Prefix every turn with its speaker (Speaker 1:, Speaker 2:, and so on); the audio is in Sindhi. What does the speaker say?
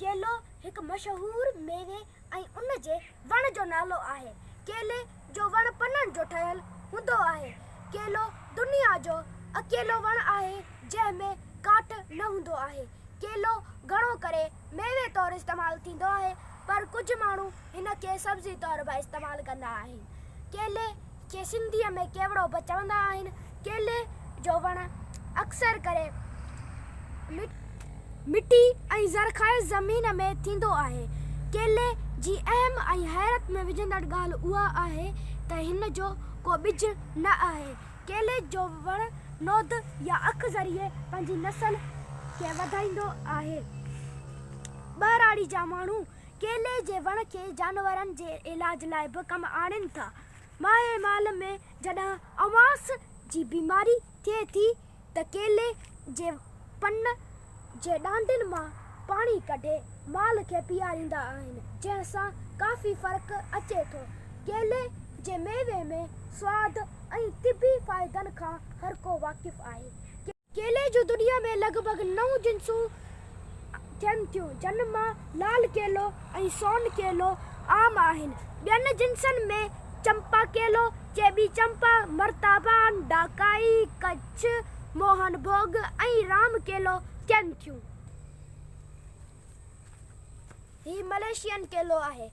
Speaker 1: ڪيلو هڪ مشهور ميوي ۽ ان جي وڻ جو نالو آهي. ڪيلي جو وڻ پنن جو ٺهيل هوندو آهي. ڪيلو دنيا جو اڪيلو وڻ آهي جنهن ۾ ڪاٺ نه هوندو آهي. ڪيلو گهڻو ڪري ميوي طور استعمال ٿيندو آهي پر ڪجهه ماڻهو. هن کي سبزي طور به استعمال ڪندا آهن. ڪيلي کي سنڌيء ۾ ڪيوڙو به چوندا آهن. ڪيلي جو وڻ اڪثر ڪري مٽي ۽ زرخيز زمين ۾ ٿيندو آهي. ڪيلي جي اهم ۽ حيرت ۾ وجهندڙ ڳالهه اها آهي ته هن جو ڪو ٻج نه آهي. ڪيلي جو وڻ نود يا اک ذريعي پنهنجي نسل کي وڌائيندو آهي. ٻهراڙي جا ماڻهو. ڪيلي جي وڻ کي جانورن جي علاج لاء به ڪم آڻين ٿا. ماهي مال ۾ جڏهن اوانس جي بيماري ٿئي ٿي ته ڪيلي جي پن جي ڏانڊين مان پاڻي ڪڍي مال کي پيئاريندا آهن جنهن سان ڪافي فرق اچي ٿو. ڪيلي جي ميوي ۾ سواد ۽ طبي فائدن کان هرڪو واقف آهي. ڪيلي جون دنيا ۾ لڳ ڀڳ نو جنسون ٿين ٿيون، جن مان لال ڪيلو ۽ سون ڪيلو عام آهن. ٻين جنسن ۾ چمپا ڪيلو، چيٻي چمپا، مرتابان، ڊاڪائي، ڪڇ، موهن ڀوڳ ۽ رام ڪيلو ٿين ٿيون. هي ملائيشين ڪيلو آهي.